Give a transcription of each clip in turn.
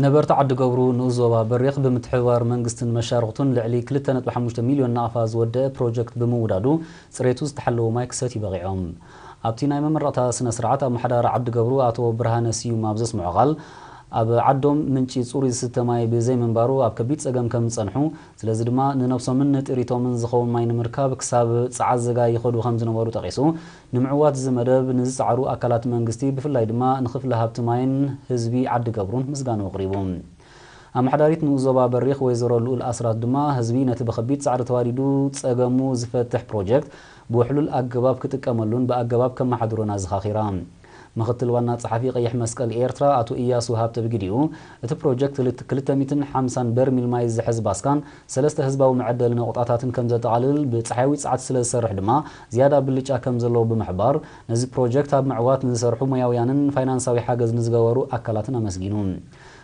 ነበርቲ ዓዲገብሩ ንኡስ ዞባ በሪኽ ብምትሕብባር መንግስትን መሻርኽቱን ልዕሊ ክልተ ነጥቢ ሓሙሽተ ሚልዮን ናቕፋ ዝወደኣ ፕሮጀክት ብምውዳዱ ፅሬቱ ዝተሓለወ ማይ ክሰትዩ በቒዖም። ኣብቲ ናይ መመረቕታ ስነ ስርዓት ኣመሓዳሪ ዓዲገብሩ ኣቶ ብርሃነ ስዩም ኣብ ዘስመዖ ቃል ኣብ ዓዶም ምንጪ ፅሩይ ዝስተ ማይ ብዘይምንባሩ ኣብ ከቢድ ፀገም ከምዝፀንሑ ስለዚ ድማ ንነብሶምን ንጥሪቶምን ዝኸውን ማይ ንምርካብ ክሳብ ፀዓዘጋ ይኸዱ ከምዝነበሩ ጠቒሱ ንምዕዋት እዚ መደብ ንዝጸዓሩ ኣካላት መንግስቲ ብፍላይ ድማ ንክፍሊ ሃብቲ ማይን ህዝቢ ዓዲ ገብሩን ምስጋንኡ ኣቕሪቡ። ኣመሓዳሪት ንኡስ ዞባ በሪኽ ወይዘሮ ልኡል ኣስራት ድማ ህዝቢ ነቲ ብከቢድ ጻዕሪ ተዋዲዱ ጸገሙ ዝፈትሕ ፕሮጀክት ብውሕሉል ኣገባብ ክጥቀመሉን ብኣገባብ ከመሓድሮን ኣዘኻኺራ። ምክትል ዋና ጸሓፊ ቀይሕ መስቀል ኤርትራ ኣቶ ኢያሱ ሃብተ ብግዲኡ፣ እቲ ፕሮጀክት ክልተ ሚእትን ሓምሳን በርሚል ማይ ዝሕዝ ባስካን፣ ሰለስተ ህዝባዊ መዐደሊ ነቑጣታትን ከም ዘጠቓልል፣ ብጸሓያዊ ጸዓት ስለ ዝሰርሕ ድማ ዝያዳ ብልጫ ከም ዘለዎ ብምሕባር፣ ነዚ ፕሮጀክት ኣብ ምዕዋት ንዝሰርሑ ሞያውያንን ፋይናንሳዊ ሓገዝ ንዝገበሩ ኣካላትን ኣመስጊኑ።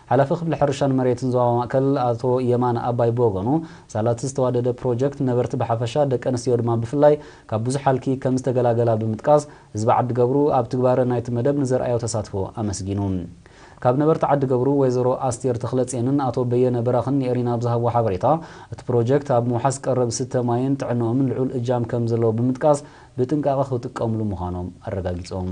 ሓላፊ ክፍሊ ሕርሻን መሬትን ዞባ ማእከል ኣቶ የማነ ኣባይ ብወገኑ፣ ሳላ'ቲ ዝተዋደደ ፕሮጀክት ነበርቲ ብሓፈሻ ደቀንስትዮ ድማ ብፍላይ ካብ ብዙሕ ሃልኪ ከም ዝተገላገላ ብምጥቃስ፣ ህዝቢ ዓዲገብሩ ኣብ ትግባረ ናይቲ መደብ ንዘርኣዮ ተሳትፎ ኣመስጊኑ። ካብ ነበርቲ ዓዲገብሩ ወይዘሮ ኣስቴር ተኽለጼንን ኣቶ በየነ በራኽን ንኤሪና ብዝሃብዎ ሓበሬታ፣ እቲ ፕሮጀክት ኣብ ምውሓስ ቀረብ ስተ ማይን ጥዕንኦምን ልዑል እጃም ከምዘለዎ ብምጥቃስ፣ ብጥንቃቐ ክጥቀምሉ ምዃኖም ኣረጋጊፆም።